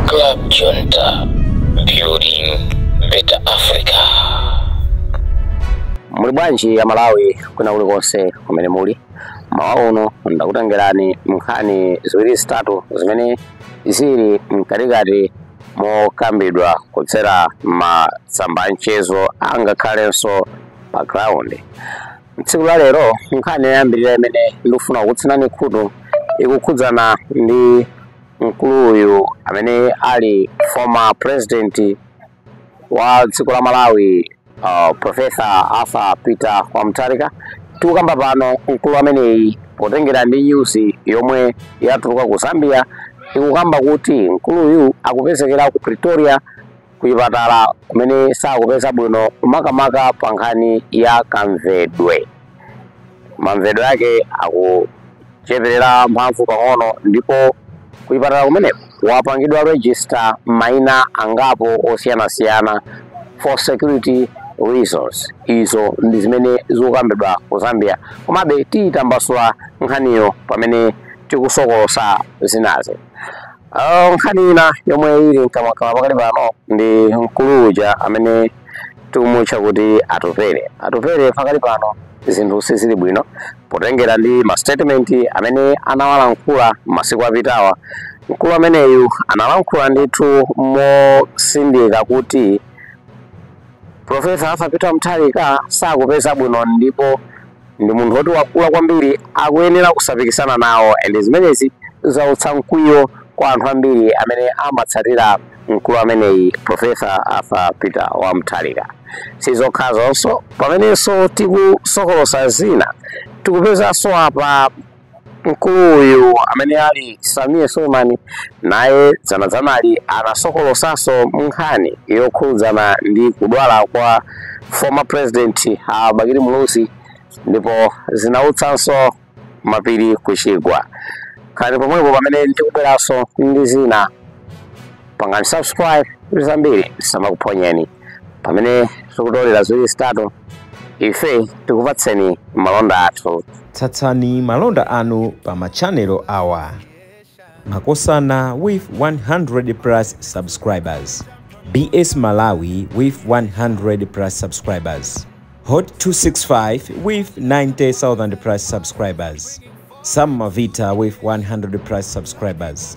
Club Junta, building better Africa. muli bwanji a Malawi kwina kulikonse kumene muli m'mawa uno ndakutengerani nkhani ziwiri zitatu zimene zili mkatikati mokambidwa kudzera masamba a mchezo angakhalenso pa ground tsiku la lero nkhani yoyambirira imene ndikufuna kukutsinani khutu ikukhudzana ndi mkulu uyu amene ali former president wa dziko la malawi uh, profesa arthur peter wa mutharika tikukamba pano mkulu ameneyi potengera ndi nyuzi yomwe yatuluka ku zambia ikukamba kuti mkuluyu akupezekera ku pretoria kuchipatala kumene sakupeza bwino makamaka pa nkhani ya kamvedwe mamvedwe ake akucheperera mphamvu pang'ono ndipo kuchipatala kumeneko wapangidwa register maina angapo osiyanasiyana for security reasons izo ndi zimene zikukambidwa ku zambia komabe tiyitambasula nkhaniyo pamene tikusokolosa zinazi Ah, nkhani ina yomwe ili mkamwamkamwa pakali pano ndi mkulu uja amene tikumutcha kuti atupere atupere pakali pano zinthu sizili bwino potengera ndi mastatement amene anawalankhula masiku apitawa mkulu ameneyu analankhula ndithu motsindika kuti profesa arthur peter mutharika sakupeza bwino ndipo ndi munthu woti wakula kwambiri akuyenera kusapikisana nawo and zimenezi zautsa mkwiyo kwa anthu ambiri amene amatsatira mkulu ameneyi profesa arthur peter wa mutharika sizokhazonso pamenenso tikusokolosa zina tikupezanso apa Mkuluyu amene ali Sameer Suleman naye dzanadzanali anasokolosanso nkhani yokhudzana ndi kudwala kwa former president a Bakili Muluzi ndipo zinautsanso mapiri kuchigwa. Khalani pomwepo pamene ndikubweranso ndi zina. Pangani subscribe zambiri zisamakuphonyeni. pamene tikutolera ziwiri zitatu ife tikupatseni malonda athu tsatsani malonda anu pa machanelo awa makosana with 100 plus subscribers bs malawi with 100 plus subscribers hot 265 with 90000 plus subscribers sam mavita with 100 plus subscribers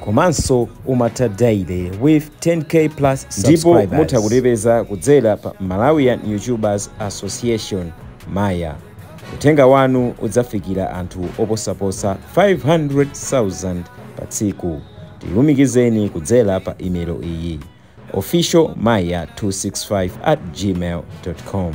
komanso Umata Daily with 10K plus subscribers. ndipo mutha kutipeza kudzera pa malawian youtubers association maya uthenga wanu udzafikira anthu oposaposa 500,000 pa tsiku tilumikizeni kudzera pa imelo iyi official maya 265 at gmail com